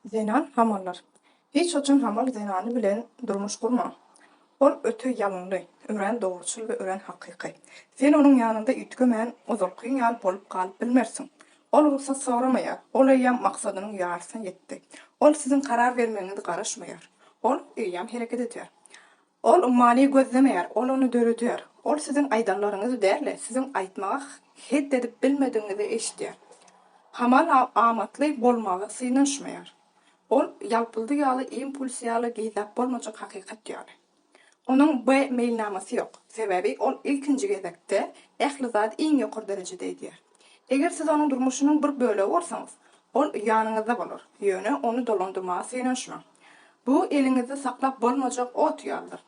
Zenan hamallar. Hiç haçan hamal zenany bilen durmuş gurma. Ol öte ýalynly, örän dogruçyl we örän hakyky. Sen onuň ýanynda üýtgemän, ozalkyň ýaly bolup galyp bilmersiň. Ol rugsat soramaýar, ol eýýäm maksadynyň ýarysyna ýetdi. Ol siziň karar bermegiňizi garaşmaýar. Ol eýýäm hereket edýär. Ol ummany gözlemeýär, ol ony döredýär. Ol siziň aýdanlaryňyzy däl-de, siziň aýtmagy hed edip bilmedigiňizi eşidýär. Hamala amatly bolmagy synanyşmaýar. Ol ýalpyldy ýaly, impuls ýaly, gizläp bolmajak hakykat ýaly. Onuň B meýilnamasy ýok. Sebäbi ol ilkinji gezekde ähli zady iň ýokary derejede edýär. Eger siz onuň durmuşynyň bir bölegi bolsaňyz, ol ýanyňyzda bolar, ýöne ony dolandyrmaga synanyşmaň. Bu eliňizde saklap bolmajak ot ýalydyr.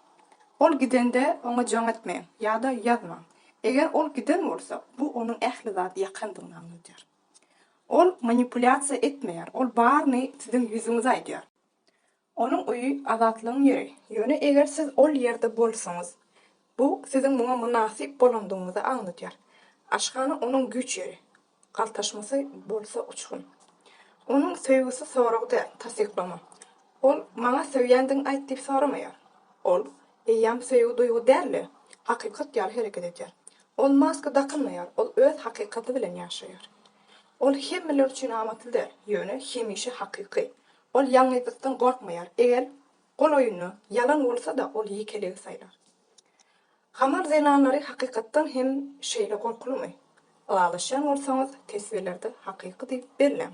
Ol gidende, oňa jaň etmeň ýa-da ýazmaň. Eger ol giden bolsa, bu onuň ähli zady ýakandygyny aňladýar. Ol manipulýasiýa etmeýär, ol baryny siziň ýüzüňize aýdýar. Onuň öýi azatlygyň ýeri, ýöne eger siz ol ýerde bolsaňyz, bu siziň muňa mynasyp bolandygyňyzy aňladýar. Aşhana onuň güýç ýeri, galtaşmasy bolsa uçgun. Onuň söýgüsi sorag däl, tassyklama. Ol Maňa söýýändigiňi aýt diýip soramaýar. Ol eýýäm söýgi duýgy däl-de, hakykat ýaly hereket edýär. Ol maska dakynmaýar, ol öz hakykaty bilen ýaşaýar. Ol hemmeler üçin amatly däl, ýöne hemişe hakyky. Ol ýalňyzlykdan gorkmaýar, eger golaýynda ýalan bolsa-da ol ýekeligi saýlar. Hamar zenanlary hakykatdan hem şeýle gorkulymy? Ylalaşýan bolsaňyz teswirlerde hakyky diýip belläň.